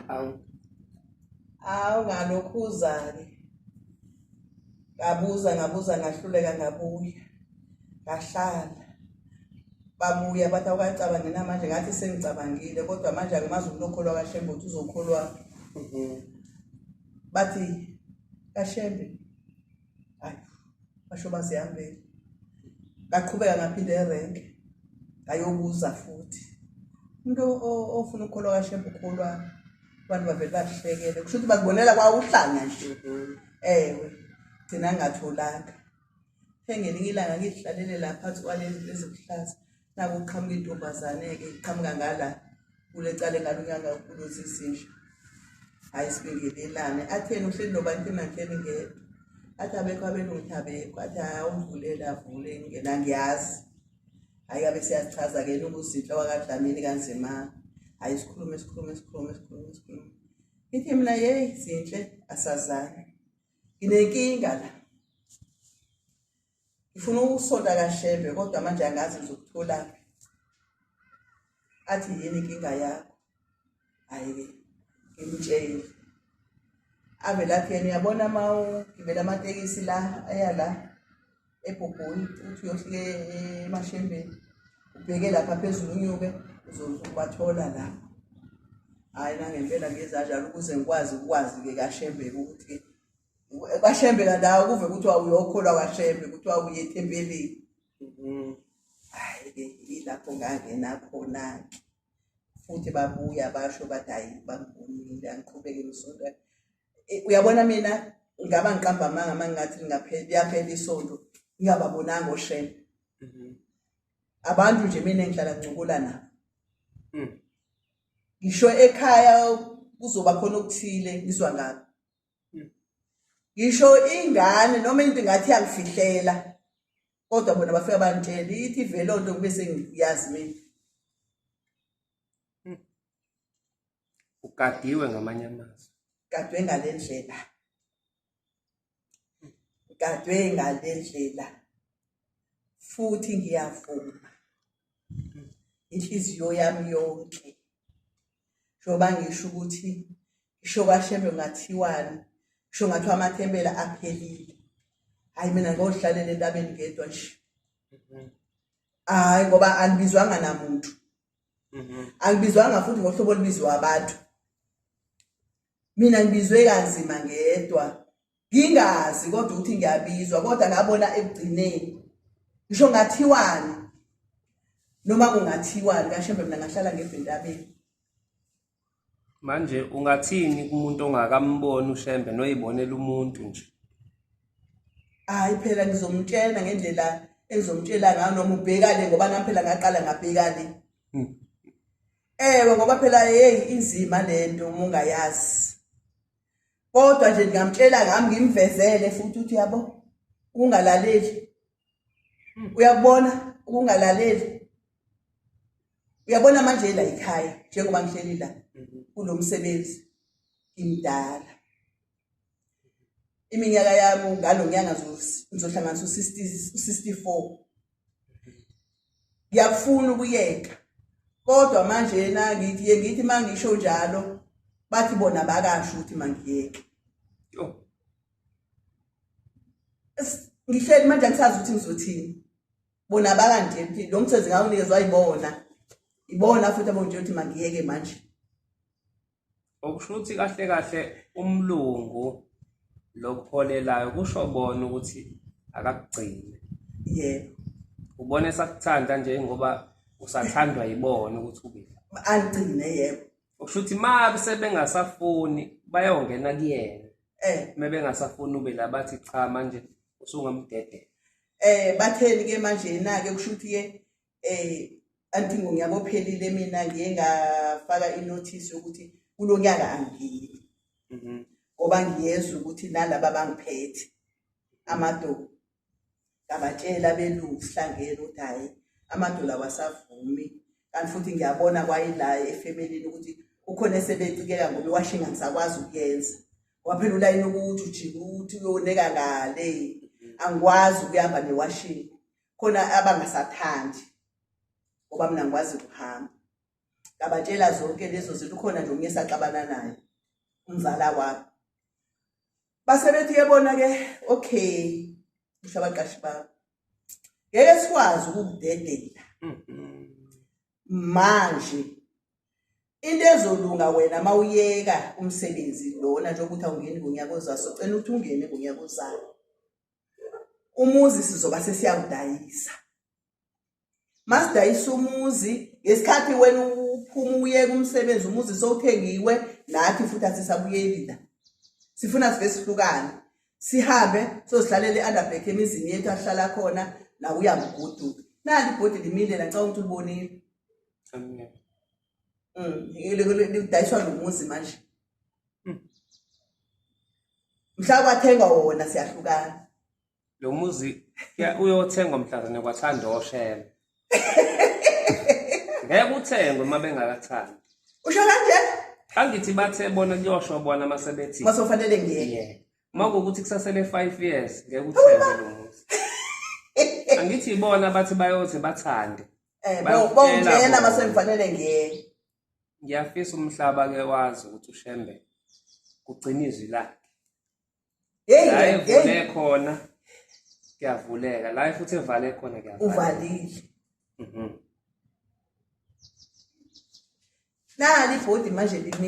awu awu ngalokhu uzake ngabuza ngabuza ngahluleka ngabuya ngahlala babuya bathi awukacabangi namanje ngathi sengicabangile kodwa manje angimazi umuntu okholwa kashembe ukuthi uzokholwa mhm. bathi kashembe hayi basho bazihambele ngaqhubeka ngaphinde erenke ngayobuza futhi umuntu ofuna ukukholwa kashembe ukholwa abantu bavele bahlekele kusho ukuthi bakubonela kwawuhlanya nje ewe gcina ngatholanga ngelinye ilanga ngidlalele la phansi kwalezi ezibuhlaza naku qhamuka intombazane ke qhamuka ngala kule cale ngalo nyaka ukulozi isinja hayi sibingelelane atheni uhleli nobantu emakeni ngedwa athi abekho abelungu ukuthi abekho athi awumvulele avule ngena ngiyazi hayi abe siyachaza ke nokuzinhla wakadlamini kanzima hayi sikhulume sikhulume sikhulume sikhulume sikhulume ithi mina yeyi zinhle asazani nginenkinga la ngifuna ukusonta kashembe kodwa manje angazi ngizokutholaphi athi yini inkinga yakho hhayi-ke ngimtshele ave lathi yena uyabona uma ugibela amatekisi la aya la ebhobhoni uthi uyohlike emashembeni ubheke lapha phezulu unyuke uzobathola la hhayi nangempela ngezanjalo ukuze ngikwazi ukwazi-ke kashembeke ukuthi-ke kwashembe kandawo kuve kuthiwa uyokholwa kwashembe kuthiwa uye ethempelini mm-hmm. hayi-ke yilapho ngangena khona-ke futhi babuya basho bathi hayi bangibonile angiqhubeke ngisonto e, uyabona mina ngaba ngiqamba amanga uma ngingathi liyaphela isonto ngingababonanga oshembe mm-hmm. abantu nje mina engihlala ngincukula nabo mm. ngisho ekhaya kuzoba khona okuthile ngizwa ngabo ngisho ingane noma into ngathi yangifihlela kodwa bona bafika bangitshela ithi vele onto kube sengiyazi mina ugadiwe ngamanye amazwi gadwe ngalendlela gadwe ngalendlela futhi ngiyavuma inhliziyo yami yonke njengoba ngisho ukuthi ngisho kwashembe ngathiwani ngisho ngathiwa amathembela aphelile hhayi mina ngozihlalela entabeni ngedwa nje hhayi ngoba angibizwanga namuntu angibizwanga futhi ngohlobo olubizwa abantu mina ngibizwe kanzima ngedwa ngingazi kodwa ukuthi ngiyabizwa kodwa ngabona ekugcineni ngisho ngathiwani noma kungathiwani kashembe mina ngahlala ngebhentabeni manje ungathini kumuntu ongakamboni ushembe noyibonela umuntu nje hayi phela ngizomtshela ngendlela engizomtshela ngayo noma ubhekane ngoba nami phela ngaqala ngabhekane hmm. ewe ngoba phela hey inzima lento uma ungayazi kodwa nje ngingamtshela ngami ngimvezele futhi uthi yabo ungalaleli hmm. uyakubona ukungalaleli uyabona manje la ekhaya njengoba ngihleli la mm-hmm. kulomsebenzi ngimdala iminyaka yami ngalo nyanga ngizohlanganisa u-64 ngiyakufuna ukuyeka kodwa manje yena ngithi ye ngithi uma ngisho njalo bathi bona bakasho ukuthi mangiyeke ngihleli manje angisazi ukuthi ngizothini bona bakanje nti lo msebenzi ngawunikezwa yibona ibona futhi abonje ukuthi mangiyeke manje okusho ukuthi kahle kahle umlungu lokuholelayo kusho bona ukuthi akakugcini yebo ubona esakuthanda nje ngoba usathandwa yibona ukuthi ube aligcine yebo okusho ukuthi ma sebengasafuni bayongena kuyena eh uma bengasafuni ube la bathi cha manje usungamdedela eh batheni ke manje na ke kusho ukuthi ke eh antingo ngiyabophelile mina ngiye ngafaka inotice yokuthi kulo nyaka angiyi mhm. ngoba ngiyezwa ukuthi nalaba bangiphethe amadoda ngabatshela belungu sihlangene ukuthi hhayi amadola wasavumi kanti futhi ngiyabona kwayila efemelini ukuthi ukhona esebecikeka ngoba iwashinga ngisakwazi ukuyenza waphela ulayini ukuthi ujike ukuthi uyoneka ngale angikwazi ukuhamba newashinga khona abangasathandi ngoba mina ngikwazi ukuhamba ngabatshela zonke lezo zinto ukhona nje omunye saxabana naye umzala wami base bethi yebona ke okay usho abaqashi bami ngeke sikwazi ukukudedela manje into ezolunga wena mawuyeka umsebenzi lona njengokuthi awungeni ngonyaka ozayo socela ukuthi ungene ngonyaka ozayo umuzi sizoba sesiyawudayisa masidayisa umuzi ngesikhathi wena uphuma uyeka umsebenzi umuzi sowuthengiwe nathi futhi asisabuyeli la sifuna sive sihlukane sihambe sozihlalele underback emizini yethu ahlala khona nakuya mguduka nali ibhodi limile la ngicabanga ukuthi ulibonile Mm, lidayiswa nomuzi manje hmm. mhla kwathengwa wona siyahlukana lo muzi uyothengwa mhlazane kwathanda oshela ngeke uthengwe uma bengakathandi usho kanje angithi bathe bona kuyosho bona uma sebethi masofanele ngiyeke uma kuwukuthi kusasele five years ngeke uthengwe lo muzi angithi ibona bathi bayothi bathande Eh Bayokutshela bawungena bona. masengifanele ngiye. ngiyafisa umhlaba ke wazi ukuthi ushembe ugcina izwi lakhe Hey la hey evule khona kuyavuleka la futhi evale khona kuyavaleka uvalile. Mhm. Nali ibhodi manje limi